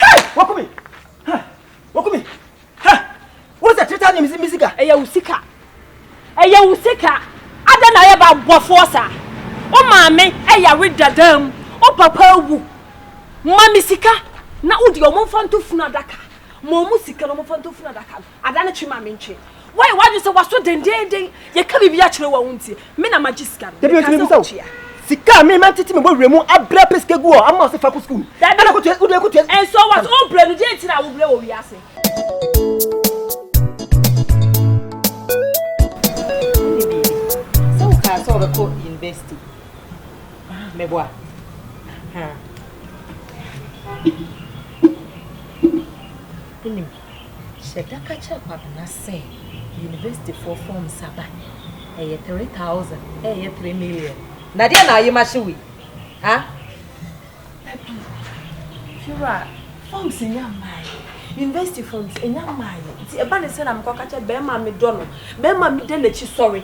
Hey! Waku me! Huh! Waku me! Huh! Wo sɛ three thousand mi sika. Ɛyɛ wo sika. Ɛyɛ wo sika. Adɛn na ayɛ baboafoɔ saa? Wo maame yare dada mu, wo papa awu. Ma me sika na wode wɔn mfa nto funu adaka. Ma wɔn sika na wɔmfa nto funu adaka no. Ada no twe ma me ntwe. Woayɛ w'adwene sɛ w'aso dendeenden. Yɛka biribi akyerɛ wo a wontie. Me na magye sika no. Dabi, mese mebisa wo, sika a me mantete me bɔwerɛ mu abrɛ apɛ sika agu hɔ a, ama wo sɛ fa kɔ sukuu? Dabi, nso what? Wobrɛ no, deɛn nti na wobrɛ wɔ wiase? Wonni biribi. Sɛ wokaa sɛ wobɛkɔ university, meboa. Wonim. Hyɛ da ka kyerɛ Kwabena sɛ Universityfoɔ forms aba, ɛyɛ three thousand ɛɛyɛ three million. Na deɛ na ayema hye wei ah. Dabi fiewura forms nnya mmaeɛ university forms nnya mmaeɛ nti ɛba ne sɛ na mekɔ ka kyerɛ bɛɛma a medɔ no bɛɛma a meda n'akyi sɔre.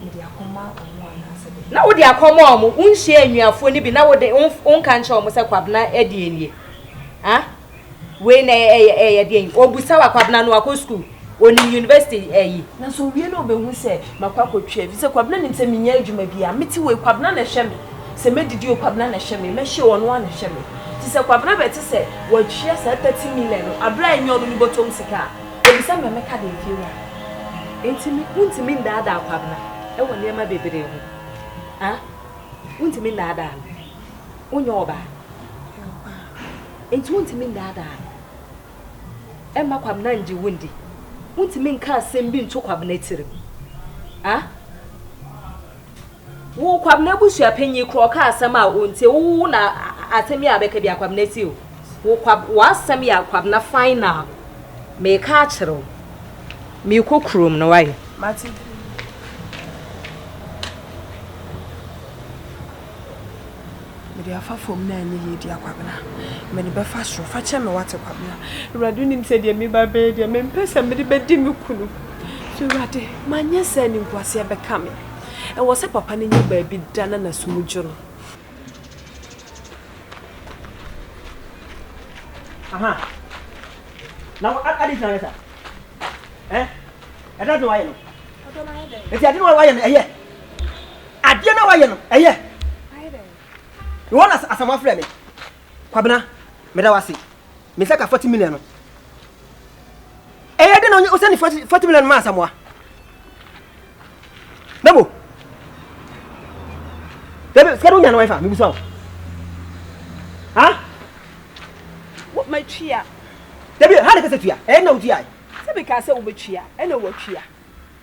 Mede akɔma wɔn anaasɛ dɛn? Na wode akɔma wɔn? Wonhyiaa anuafoɔ no bi na wo de, wonka nkyerɛɛ wɔn sɛ Kwabena deɛ nie? Ha? Wei na ɛyɛ deɛn? Ɔbisa wo a, Kwabena no akɔ sukuu? Ɔnim university ayi? Na sɛ ɔwie na ɔbɛhu sɛ makɔ akɔtwa ɛfiri sɛ Kwabena nim sɛ mennya adwuma biara, mete wei Kwabena na ɛhwɛ me, sɛ mɛdidi o Kwabena na ɛhwɛ me, mɛhyɛ o ɔno ara na ɛhwɛ me. Nti sɛ Kwabena bɛte sɛ wɔatua saa thirty million no berɛ a ɛnyɛ ɔno ne bɔtɔm sika a, Obisa ma meka deɛ Fiewura. Enti me wontumi nnaadaa Kwabena wɔ nneɛma bebree ho? Haa? Wontumi nnaadaa no? Wonyɛ ɔbaa? Meyɛ ɔbaa. Enti wontumi nnaadaa no? Ɛmma Kwabena ngye wo ndi? Wontumi nka asɛm bi nto Kwabena tirim? Haa? Wo Kwabena abusua panyin kura ɔka asɛm a ontie wo wo na asɛm yi a bɛka bi a Kwabena tie o. Wo kwa w'asɛm yɛ Kwabena final meka akyerɛ wo mekɔ kurom no wayɛ. Mate. Mede afa fam na ɛnyɛ yie dea Kwabena, mede bɛfa soro, fa kyɛ me wate Kwabena, Awurade wonim sɛ deɛ meba bɛyɛ deɛ mempɛ sɛ mede bɛdi me kunu so Awurade manyɛ sɛ animguaseɛ bɛka me, ɛwɔ sɛ papa no nya baabi da na n'asom gye no. Aha. Na wo adi gyina yɛ sa. Eh? Ɛda de wayɛ no. Ɛda wayɛ dɛ. Ɛti adi wayɛ no ɛyɛ. Adeɛ no a wayɛ no ɛyɛ. Mewɔ no asɛm afrɛ me. Kwabena meda wo ase me sɛ ka forty million no ɛyɛ de na wo sɛne forty million ma asamoa na mo dɛbi sika de wonya no wɛfa mebusa wo ha matwia dɛbi ha de kɛsɛ tua ɛyɛ de na wotua sɛ meka sɛ wobɛtua ɛna woatua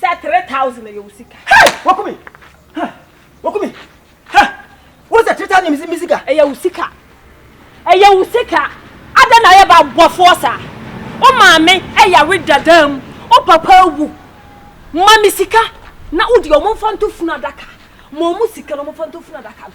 Sɛ three thousand ɛyɛ wo sika. Hey! Woku me! Huh! Woku me! Huh! Wo sɛ three thousand ɛyɛ me sika. Ɛyɛ wo sika. Ɛyɛ wo sika. Adɛn na ayɛ ba bɔfoɔ saa? Wo maame ɛyare dada mu, wo papa awu. Ma me sika na wo deɛ wɔn mfa nto funu adaka. Ma wɔn sika na wɔn mfa nto funu adaka no.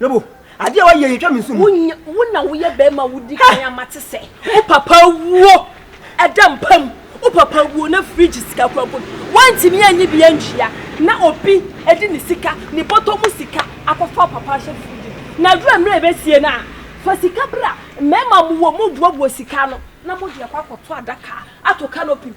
Lobo, adeɛ wa yɛ yɛtwa me nsu mu. Wo na woyɛ bɛrima wodi kan ama te sɛ. Wo papa wuo ɛda mpa mu. Wo papa wuo na fridge sika kura bom. Wantumi anyi bi antua na obi ɛde ne sika, ne bɔtɔ mu sika akɔfa wo papa ahyɛ fridge mu. Na aduru mmerɛ ɛbɛsie no a, fa sika bra. Mmarima mo wɔ mobuabua sika ano na mode akɔ akɔto adaka ato canopy mu.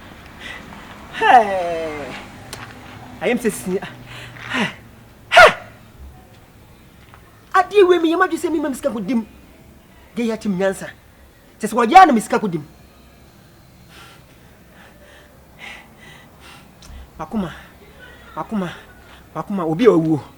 ayɛ me sɛ si adeɛ wei meyɛ m'adwe sɛ mema me sika kɔdim deɛ yɛ akyem nyansa kyɛ sɛ wɔyɛ a na me sika kɔdim makoma makoma makoma obi a ɔwuo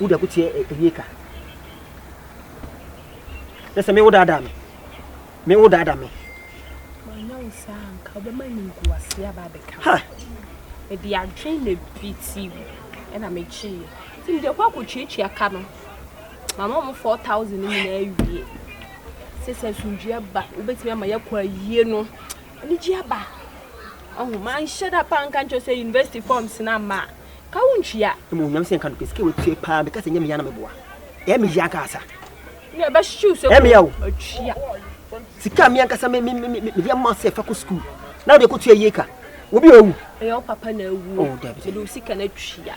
Wo deɛ ko teɛ ɛyie ka. Nɛ sɛ me wo daadaa me. Me wo daadaa me. Wanya wo saa nka wobɛma nimguaseɛ aba abɛka. Ha! Mede adwene na ebi ti wo ɛna megyeeɛ. Nti mede kɔ akɔtuatua ka no. Mama wɔn 4000 no nyinaa awie. Sɛ sɛ asomdwie aba wobɛtumi ama yɛakɔ ayie no anigye aba. Ɔho manhyɛ da paa nka nkyɛw sɛ university forms no ama a. ka wo ntwia. Mmom Nyame sɛ nka no pɛ sika watua paa meka sɛ nyɛ meyɛ na meboa ɛɛ me yɛ ankasa ne ɛbɛ hyew sɛ ɛɛ meyɛ o atwia sika me ankasa me me me me yɛ ma sɛ fa kɔ school na wode kɔtua yie ka obi owu ɛyɛ wo papa na awu oh, mede wo sika no atwia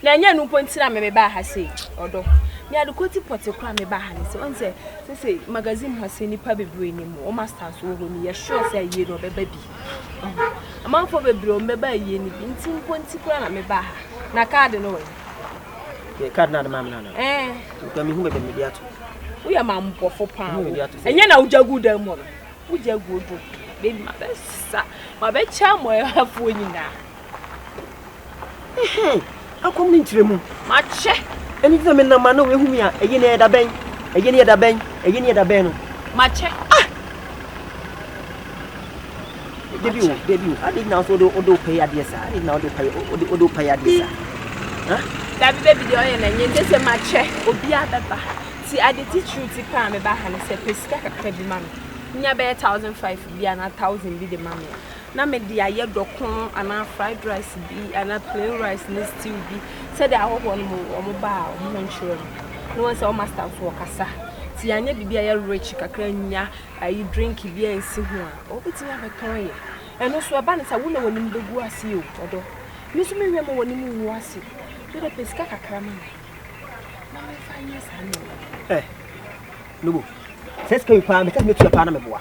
na ɛnyɛ no mpo ntira me mebaa ha sei ɔdɔ me ade kɔti pɔte kora mebaa ha ne sɛ ɔne sɛ sɛ sɛ magazine ha sɛ nnipa bebree ne mu ɔma stars wɔ hɔ ne yɛsure sɛ ayie no ɔbɛba bi Amanfoɔ bebree wɔn bɛba ayie no bi nti mpo nti koraa na mebaa ha. Na kaade no wɔ he? Yɛ kaade no ade maa me no anaa? Ɛɛ. Nka mehu baabi a mede ato. Woyɛ mampɔfo paa wo. Ɛnyɛ na wogya gu dan mu hɔ no. Wogya gu odo. Baby mabɛsa mabɛkyɛ amɔɛhafoɔ nyinaa. Akɔm ne nkyerɛ mu. Makyɛ. Ɛno nti na menam ma na wɔahu me a ɛyɛ ne ɛda bɛn? Ɛyɛ ne ɛda bɛn? Ɛyɛ ne ɛda bɛn no? Makyɛ. Ah! Debi o, debi o. Ade na so do do pay ade sa. Ade na do pay o do do pay ade sa. Ha? Dabi baby de oyɛ na nye de se makyɛ obi abɛba. Ti ade ti true ti pa me ba ha ne se pesika kakra bi ma me. Nya bɛyɛ 1005 bi ana 1000 bi de ma me. na mede ayɛ dɔko anaa fried rice bi anaa plain rice ne stew bi sɛdeɛ ahɔhoɔ no mu wɔn ba a wɔn ho nkyerɛ no na wɔn sɛ wɔn master nso wɔkasa ti anyɛ biribi a yɛ rich kakra nya ayi drink bi a nsi ho a wɔbɛtumi abɛtɔn yɛ ɛno nso ɛba ne sɛ wo na wɔn anim bɛgu ase o ɔdɔ me nso mehwɛ ma wɔn anim wu ase wo de pɛ sika kakra ma me na mefa nyɛ saa nneɛma ɛ eh, nubu sɛ sika yi paa meka sɛ mɛtua paa na meboa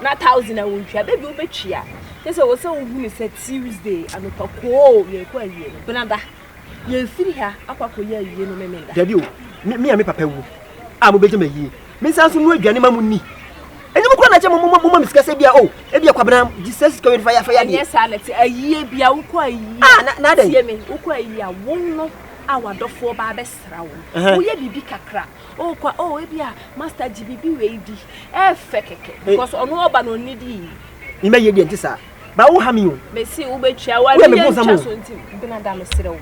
na thousand a wɔntwa da bi wobɛtwia kyɛ sɛ wɔ sɛ wohunu sɛ tuesday anopa koo yɛkɔ awie no benada yɛfiri ha akɔ akɔyɛ awie no memenda dabi o me a me papa wu a mobɛgya ma yie mensan so no aduane ma mo ni ɛnyɛ mo kora na kyɛ moma me sika sɛ bia o ɛbi akwabena gye sɛ sika wɛde fa yɛafa yɛadeɛ ɛnyɛ saa na te ayie bia wokɔ ayie ah, na, na tie me wokɔ ayie a wo no a wadɔfoɔ ba abɛsra wo woyɛ biribi kakra Oh kwa oh ebi a master gye bibi wei di. Ɛfɛ kɛkɛ because ɔno ɔba na ɔnni di. Ni mɛ yie deɛ nti saa. Ba wo ha mi o. Mɛ si wo bɛ tua wo a mi yɛ ntwa so nti bena da me serɛ wo.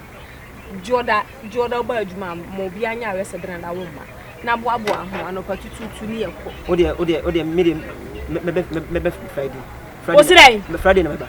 Jɔda jɔda ɔba adwuma ma obi anya awɛ sɛ bena da wo mma. Na boa boa ho anɔpa tututu ni yɛ kɔ. Wo deɛ wo deɛ wo deɛ mi deɛ mɛ bɛ mɛ bɛ Friday. Wo serɛ. Friday na mɛ ba.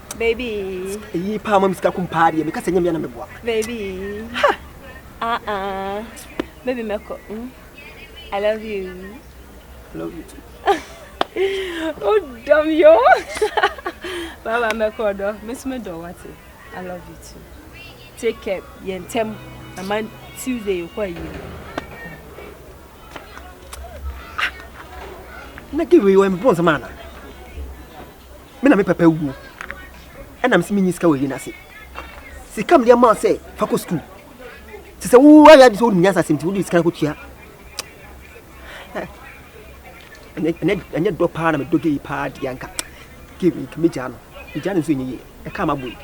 Baby. Eyi paa ma me sika kum paa deɛ meka sɛ nyɛ mea na meboa. Baby. Ha! Ah ah. Baby mɛkɔ. Mm. I love you. I love you too. oh dumb yo. Baba mɛkɔ dɔ. Miss me dɔ wate. I love you too. Take care. Yɛn tɛm. Ama Tuesday yɛkɔ ayie. Na give you a bonus man. me na me papa wuo ɛna mese menyi sika wɔ yere no ase sika mede ama sɛ fa kɔ sukuu te sɛ wo ayɛ ade sɛ wonim nyansa asɛm nti wode sika no kɔtua ɛnyɛ dɔ paa na medɔ gei paa deɛ anka gei mɛgyaa no mɛgyaa no nso ɛnyɛ yie ɛka ma boi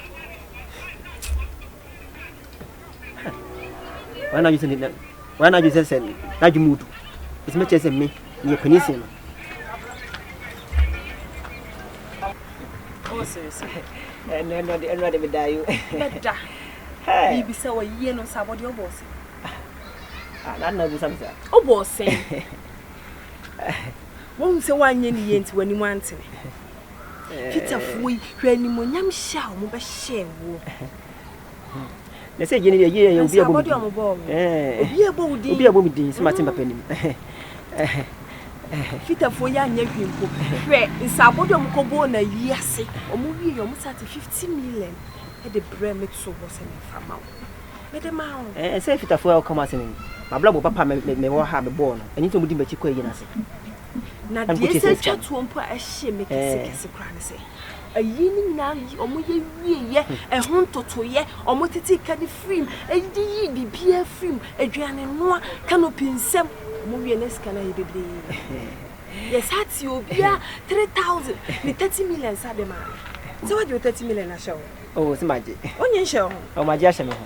wɔn adwene sɛ wɔn adwene sɛ sɛ n'adwene mu du ɛsɛ mɛkyerɛ sɛ me meyɛ panin sen no Oh, serious. Eh, no, no, no, no, me die. Beda. Hey. Bibi sa wa yie no sa body obose. Ah, na na bu sa bisa. Obose. Won se wa nye ni ye nti wani mu antene. Peter fuoi, hwe ni mo nyam sha o mo be she wo. Na sɛ gyene yɛyɛ yɛ obi a ɛbɔ me din obi a ɛbɔ wo din obi a ɛbɔ me din sɛ mate mpapa anim fitafoɔ yi anyɛ hwee mpo hwɛ nsaabɔ de ɔmo kɔbɔɔ na yi ase ɔmo wie yɛ ɔmo sa te fifty million ɛde brɛ me to hɔ sɛ mefa ma wo mede ma wo ɛɛ sɛ fitafoɔ a ɔka mo asɛm yi mabrabɔ papa mewɔ ha mebɔɔ no ɛno nti ɔmo di m'akyi kɔ ayi no ase Na deɛ ɛsɛ twa toɔ mpo a ɛhyɛ me kɛse kɛse koraa ne sɛ ayi ne nyinaa yi wɔn yɛ wieɛ ɛho ntotoyɛ wɔn tete ka ne firim ɛde yi biribiara firim aduane noa canopy nsɛm wɔn wie ne sika no ayɛ bebree yɛsa te obiara three thousand ne thirty million sa de maa me sɛ wagye wo thirty million ahyɛ wo. o sɛ magye. wonye nhyɛ wo ho. ɔmagye ahyɛ me ho.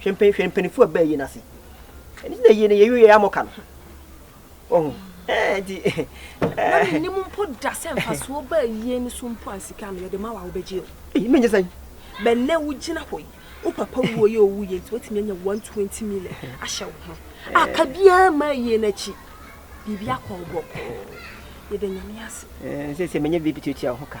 Hwɛ mpan hwɛ mpanimfoɔ a bɛyɛ n'ase. Ɛno nti na yie no yɛyi yɛ amɔ ka no. Ɔho. Ɛɛ nti. Na menim mpo da sɛ mfasoɔ baa yie no so mpo a sika no yɛde ma wo a wobɛgye o. Ei menyɛ sɛn? Bɛnɛ wogyina hɔ yi, wo papa wuo yɛ owu yɛ nti woatumi anya 120 million ahyɛ wo ho. A ka biara mmaa yie no akyi. Biribi akɔ wo bɔkɔɔ. Yɛda Nyame ase. Ɛɛ sɛ sɛ menyɛ biribi tuatua wo ho ka.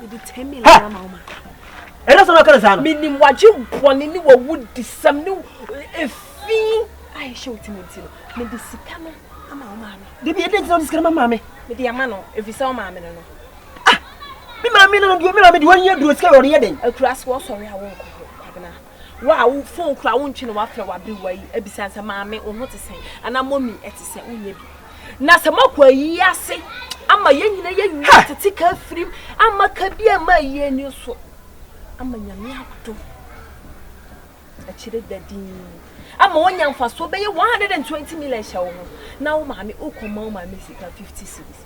mede ten million ha ama wo ma ɛna sɛ ɔkɛrɛ saa no menim wagye bɔne ne wawu disɛm ne ɛfi a ɛhyɛ wo timu nti no mede sika no ama wo maame dabi ɛdɛ ntina wode sika no ma maame mede ama no ɛfiri sɛ wo maame no no ah me maame no no me maame de wɔnyɛ duro sika yɛ ɔde yɛ den akura so wɔsɔre a wonkɔ hɔ kwabena Wo a wo phone koraa wontwe na woafrɛ w'aberewa yi abisa no sɛ, Maame, wo ho te sɛn? Anaa Mummy, ɛte sɛn? Wonyɛ bi. Na sɛ moakɔ ayi ase ama yɛn nyinaa yɛawie atete ka afirim ama ka bi ama ayi ani so ama Nyame adom akyire da din ama woanya mfasoɔ bɛyɛ 120 million hyɛ wo ho na wo maame wokɔma wo maame sika 50 cities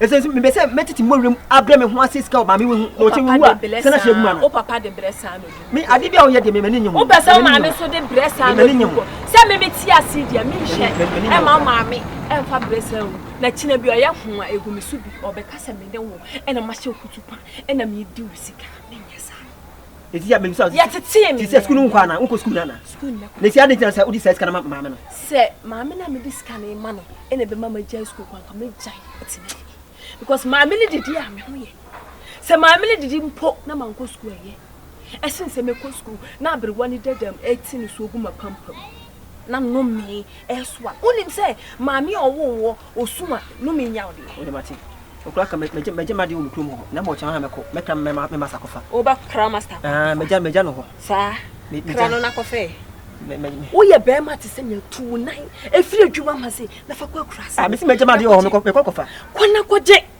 Ɛsɛ nso mepɛ sɛ mɛtete mmɔwerɛ mu abrɛ me ho ase sika wɔ maame wehu na ɔkyɛ wewu a sɛ na hyɛ agu ma no. O papa de brɛ saa na ɔdi. Me ade bi a ɔyɛ deɛ me m'ani nye ho. O pɛ sɛ maame nso de brɛ saa na ɔdi nkɔ. Sɛ me me te ase yi deɛ me nhwɛ ɛma maame ɛnfa brɛ saa ngu na kyina bi ɔyɛ ho a egu me so bi ɔbɛka sɛ me ne wo ɛna mahyɛ kutupa ɛna me di wo sika me nyɛ saa. Eti ya mebisa wo. Yɛtetee me. Ti sɛ sukuu no nkɔ ana? Nkɔ sukuu no ana? Sukuu no mɛkɔ. Nti adɛn nti na sɛ wode saa sika no ma maame no? Sɛ maame no a mede sika no rema no na ɛbɛma magyae sukuu kɔ a, anka mɛgyae ɛte dɛn? Because maame no didi a me ho yɛ. Sɛ maame no didi mpo na mankɔ sukuu a ɛyɛ. Ɛsen sɛ mɛkɔ sukuu na aberewa no da dɛm ɛte ne so gu m'apampam. na nnomee ɛso a wonim sɛ maame a ɔwoo woɔ ɔsu a nnomee nya wo deɛ. Wode mate. Ɔkura ka mɛgye mɛgye madeɛ wɔ me kurom hɔ na mɔkyɛ hɔ a mɛkɔ mɛkra me ma me masa kɔfa. Woba kra masta kɔ. Aa mɛgya mɛgya no hɔ. Saa. Kra no na kɔfɛ. Mɛ mɛ mɛ. Woyɛ bɛɛma te sɛ nea tu wo nan ɛfiri adwuma ma se na fa kɔ akura ase. Aa mesi mɛgya madeɛ wɔ hɔ mɛkɔ mɛkɔ kɔfa. Kɔ na kɔgye.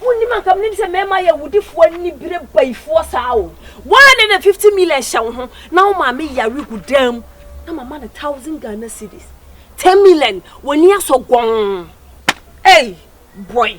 Wonnim anka menim sɛ mɛma yɛ awudifoɔ anibire bayifoɔ saa o. Woaa ne na fifty million hyɛ wo ho na wo maame yare gu dan mu na mama no thousand Ghana cedis, ten million, w'ani asɔ gɔnn ei boy.